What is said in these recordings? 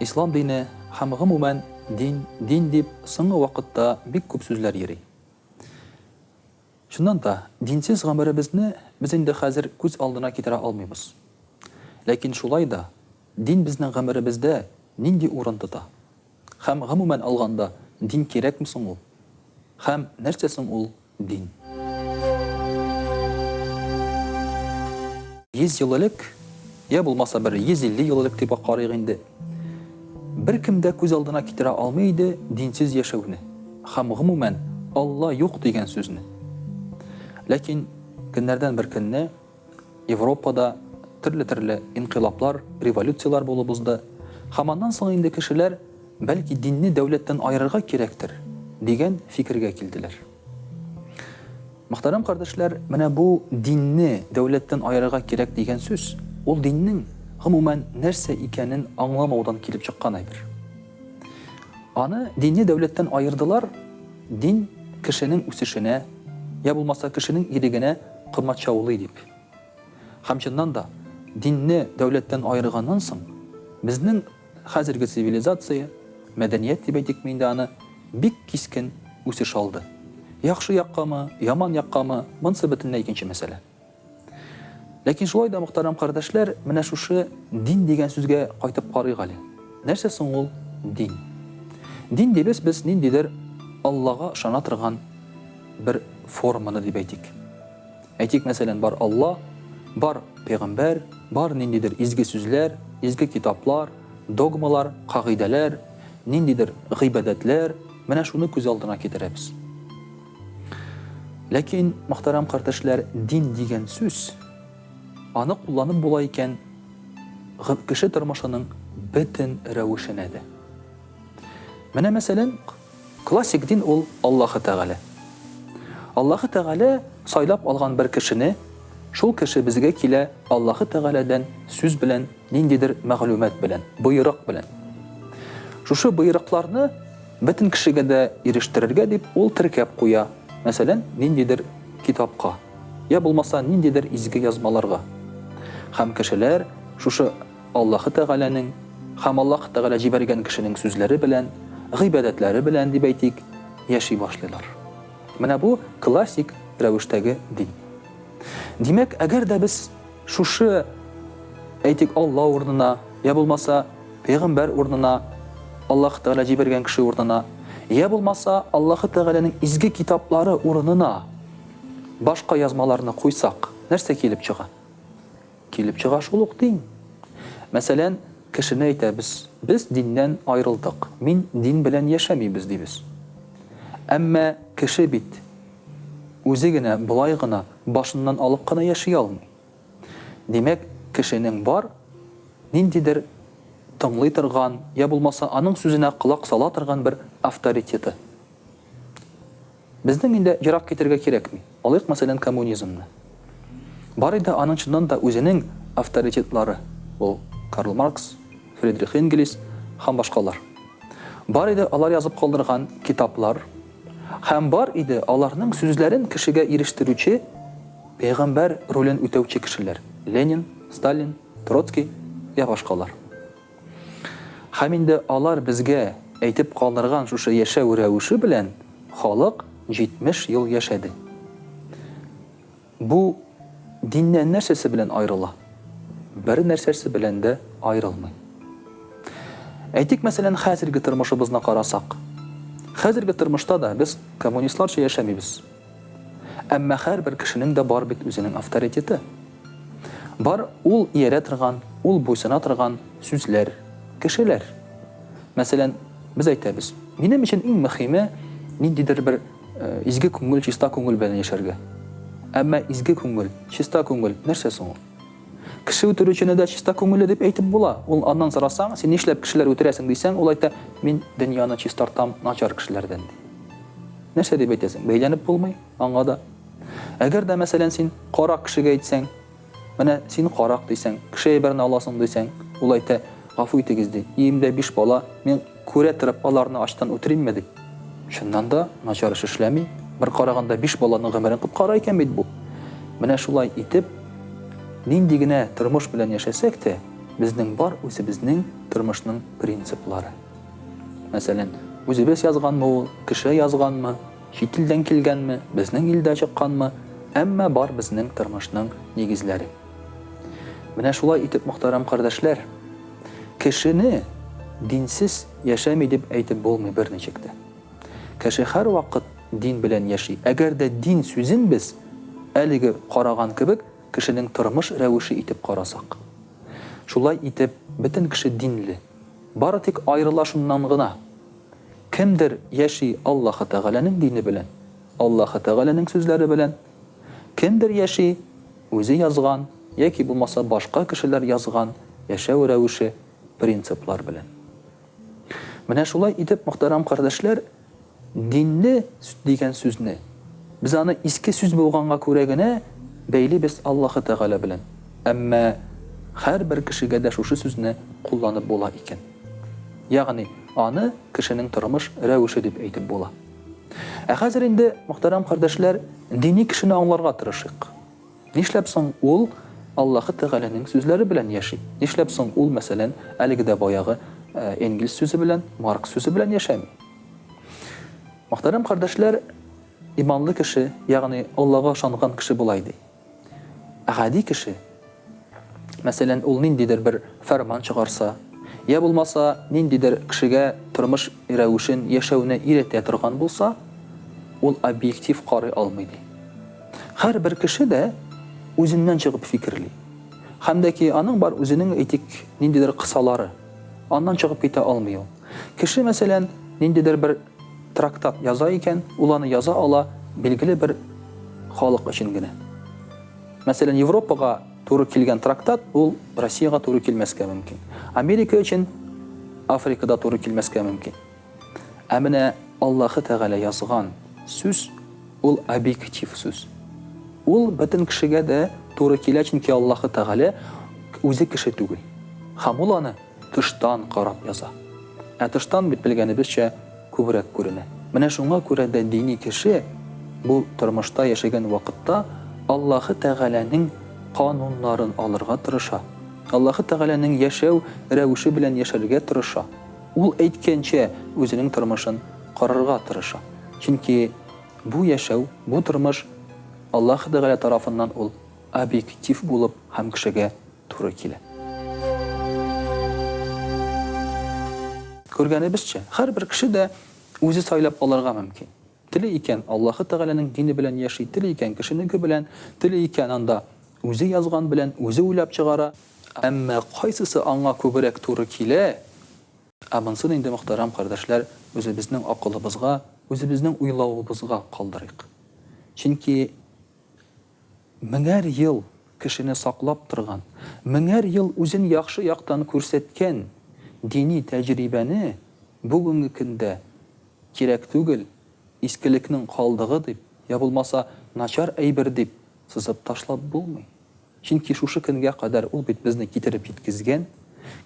Ислам дине һәм гомумән дин, дин дип соңгы вакытта бик күп сүзләр йөри. Чыннан да, динсез гомеребезне без инде хәзер күз алдына китерә алмыйбыз. Ләкин шулай да, дин безнең гомеребездә нинди урын тота? Һәм гомумән алганда, дин кирәкме соң ул? Һәм нәрсә соң ул? Дин. Йөз ел элек, йә булмаса бер 150 ел элек дип үк карыйк инде, беркем дә күз алдына китерә алмый иде динсез яшәүне һәм, гомумән, Алла юк дигән сүзне. Ләкин көннәрдән бер көнне. Европада төрле-төрле инкыйлаблар, революцияләр булып узды, һәм аннан соң инде кешеләр, бәлки, динне дәүләттән аерырга кирәктер, дигән фикергә килделәр. Мөхтәрәм кардәшләр, менә бу динне дәүләттән аерырга кирәк дигән сүз, ул диннең, гомумән, нәрсә икәнен аңламаудан килеп чыккан әйбер. Аны, динне дәүләттән аердылар, дин кешенең үсешенә, йә булмаса кешенең ирегенә, комачаулый дип. Һәм чыннан да, динне дәүләттән аерганнан соң, безнең хәзерге цивилизация, мәдәният дип әйтикме инде аны, бик кискен үсеш алды. Яхшы яккамы, яман яккамы, монсы бөтенләй икенче мәсьәлә. Ләкин шулай да, мөхтәрәм кардәшләр, менә шушы дин дигән сүзгә кайтып карыйк әле. Нәрсә соң ул дин? Дин дибез без ниндидер Аллага ышана торган бер форманы дип әйтик. Әйтик, мәсәлән, бар Алла, бар пәйгамбәр, бар ниндидер изге сүзләр, изге китаплар, догмалар, кагыйдәләр, ниндидер гыйбадәтләр, менә шуны күз алдына китерәбез. Ләкин, мөхтәрәм кардәшләр, дин дигән сүз аны кулланып була икән кеше тормышының бөтен рәвешенә дә. Менә мәсәлән, Классик дин ул Аллаһы Тәгалә. Аллаһы Тәгалә сайлап алган бер кешене, шул кеше безгә килә Аллаһы Тәгаләдән сүз белән, ниндидер мәгълүмат белән, боерык белән. Шушы боерыкларны бөтен кешегә дә ирештерергә дип ул теркәп куя, мәсәлән, ниндидер китапка, йә булмаса ниндидер изге язмаларга. Һәм кешеләр шушы. Аллаһы Тәгаләнең һәм Аллаһы Тәгалә җибәргән кешенең сүзләре белән, гыйбадәтләре белән, дип әйтик, яши башлыйлар. Менә бу классик рәвештәге дин. Димәк, әгәр дә без шушы, әйтик, Алла урынына, йә булмаса, пәйгамбәр урынына, Аллаһы Тәгалә җибәргән кеше урынына, йә булмаса, Аллаһы Тәгаләнең изге китаплары урынына башка язмаларны куйсак, нәрсә килеп чыга? Килеп чыга шул ук дин. Мәсәлән, кешене әйтәбез, без диннән аерылдык, мин дин белән яшәмибез дибез. Әмма кеше бит үзе генә болай гына, башыннан алып кына яши алмый. Димәк, кешенең бар ниндидер тыңлый торган, я булмаса аның сүзенә колак сала торган бер авторитеты. Безнең инде ерак китәргә кирәкми. Алыйк, мәсәлән, коммунизмны. Бар иде аның чыннан да үзенең авторитетлары, ул Карл Маркс, Фридрих Энгелис һәм башкалар. Бар иде алар язып калдырган китаплар һәм бар иде аларның сүзләрен кешегә ирештерүче, пәйгамбәр ролен үтәүче кешеләр, Ленин, Сталин, Троцкий йә башкалар. Һәм инде алар безгә әйтеп калдырган шушы яшәү рәвеше белән халык 70 ел яшәде. Бу диннән нәрсәсе белән аерыла? Бер нәрсәсе белән дә аерылмый. Әйтик, мәсәлән, хәзерге тормышыбызны карасак. Хәзерге тормышта да без коммунистларча яшәмибез. Әмма һәрбер кешенең дә бар бит үзенең авторитеты. Бар, ул иярә торган, ул буйсына торган сүзләр, кешеләр. Мәсәлән, без әйтәбез, Минем өчен иң мөхиме, ниндидер бер изге күңел, чиста күңел белән яшәргә. Әмма изге күңел, чиста күңел, нәрсә соң ул? Кеше үтерүчене дә чиста күңелле дип әйтеп була. Ул аннан сорасаң, син нишләп кешеләр үтерәсең дисәң, ул әйтә, мин дөньяны чистартам начар кешеләрдән, ди. Нәрсә дип әйтәсең, бәйләнеп булмый? Аңа да. Әгәр дә, мәсәлән, син карак кешегә әйтсәң, Менә син карак, дисәң, кеше әйберен аласың, дисәң, ул әйтә, Гафу итегез, ди, өемдә биш бала, мин күрә торып аларны ачтан үтеримме, ди. Чыннан да, начар эш эшләми, бер караганда биш баланың гомерен коткара икән бит бу. Менә шулай итеп, нинди генә тормыш белән яшәсәк тә, безнең бар үзебезнең тормышның принциплары. Мәсәлән, үзебез язганмы ул, кеше язганмы? Чит илдән килгәнме, безнең илдә чыкканмы, әмма бар безнең тормышның нигезләре. Менә шулай итеп, мөхтәрәм кардәшләр, кешене динсез яшәми дип әйтеп булмый берничек тә. Кеше һәрвакыт дин белән яши. Әгәр дә дин сүзен без, әлеге караган кебек, кешенең тормыш рәвеше итеп карасак. Шулай итеп, бөтен кеше динле. Бары тик аерыла шуннан гына. Кемдер яши Аллаһы Тәгаләнең дине белән, Аллаһы Тәгаләнең сүзләре белән, кемдер яши үзе язган яки булмаса башка кешеләр язган яшәү рәвеше, принциплар белән. Менә шулай итеп, мөхтәрәм кардәшләр, динне дигән сүзне, без аны иске сүз булганга күрә генә бәйлибез Аллаһы Тәгалә белән. Әмма һәрбер кешегә дә шушы сүзне кулланып була икән. Ягъни, аны кешенең тормыш рәвеше дип әйтеп була. Ә хәзер инде, мөхтәрәм кардәшләр, дини кешене аңларга тырышыйк. Нишләп соң ул Аллаһы Тәгаләнең сүзләре белән яши? Нишләп соң ул, мәсәлән, әлеге дә баягы Энгельс сүзе белән, Маркс сүзе белән яшәми? Мөхтәрәм кардәшләр, иманлы кеше, ягъни Аллага ышанган кеше болай ди. Ә гади кеше, мәсәлән, ул ниндидер бер фәрман чыгарса, йә булмаса ниндидер кешегә тормыш рәвешен, яшәүне өйрәтә торган булса, ул объектив карый алмый, ди. Һәрбер кеше дә үзеннән чыгып фикерли. Һәм дә ки аның бар үзенең, әйтик, ниндидер кысалары. Аннан чыгып китә алмый ул. Кеше, мәсәлән, ниндидер бер трактат яза икән, ул аны яза ала билгеле бер халык өчен генә. Мәсәлән, Европага туры килгән трактат ул Россиягә туры килмәскә мөмкин. Америка өчен Африкада туры килмәскә мөмкин. Ә менә Аллаһы Тәгалә язган сүз, ул объектив сүз. Ул бөтен кешегә дә туры килә, чөнки Аллаһы Тәгалә үзе кеше түгел. Һәм ул аны тыштан карап яза. Ә тыштан бит, белгәнебезчә, күбрәк күренә. Менә шуңа күрә дә дини кеше бу тормышта яшәгән вакытта Аллаһы Тәгаләнең кануннарын алырга тырыша, Аллаһы Тәгаләнең яшәү рәвеше белән яшәргә тырыша. Ул әйткәнчә, үзенең тормышын корырга тырыша. Чөнки бу яшәү, бу тормыш Аллаһы Тәгалә тарафыннан ул объектив булып һәм кешегә туры килә. Күргәнебезчә, һәрбер кеше дә үзе сайлап алырга мөмкин. Тели икән, Аллаһы Тәгаләнең дине белән яши, тели икән, кешенеке белән, тели икән, анда үзе язган белән, үзе уйлап чыгара. Әмма кайсысы аңа күбрәк туры килә? Ә монысын инде, мөхтәрәм кардәшләр, үзебезнең акылыбызга, үзебезнең уйлавыбызга калдырыйк. Чөнки Меңәр ел кешене саклап торган, меңәр ел үзен яхшы яктан күрсәткән дини тәҗрибәне бүгенге көндә кирәк түгел, искелекнең калдыгы дип, йә булмаса начар әйбер дип сызып ташлап булмый. Чөнки шушы көнгә кадәр ул бит безне китереп җиткезгән.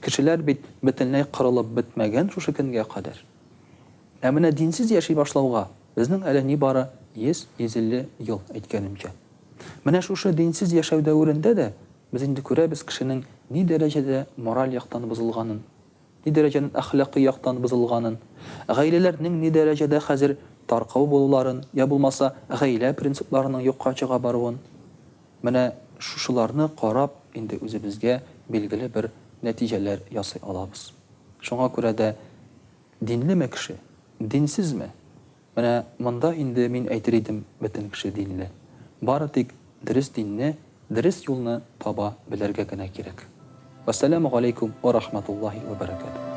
Кешеләр бит бөтенләй кырылып бетмәгән шушы көнгә кадәр. Ә менә динсез яши башлауга, Безнең әле нибары 100-150 ел, әйткәнемчә. Менә шушы динсез яшәү дәверендә дә без инде күрәбез кешенең ни дәрәҗәдә мораль яктан бозылганын, ни дәрәҗәнен әхлакый яктан бозылганын, гаиләләр нең ни дәрәҗәдә хәзер таркау булуларын, я булмаса, гаилә принципларының юкка чыга баруын. Менә шушыларны карап инде үзебезгә билгеле бер нәтиҗәләр ясый алабыз. Шуңа күрә дә Динлеме кеше, динсезме? Менә монда инде мин әйтер идем, бөтен кеше динле. Бары тик дөрес динне, дөрес юлны таба белергә генә кирәк. Вәссәләмү галәйкүм уә рахматуллаһи уә бәрәкәтүһ.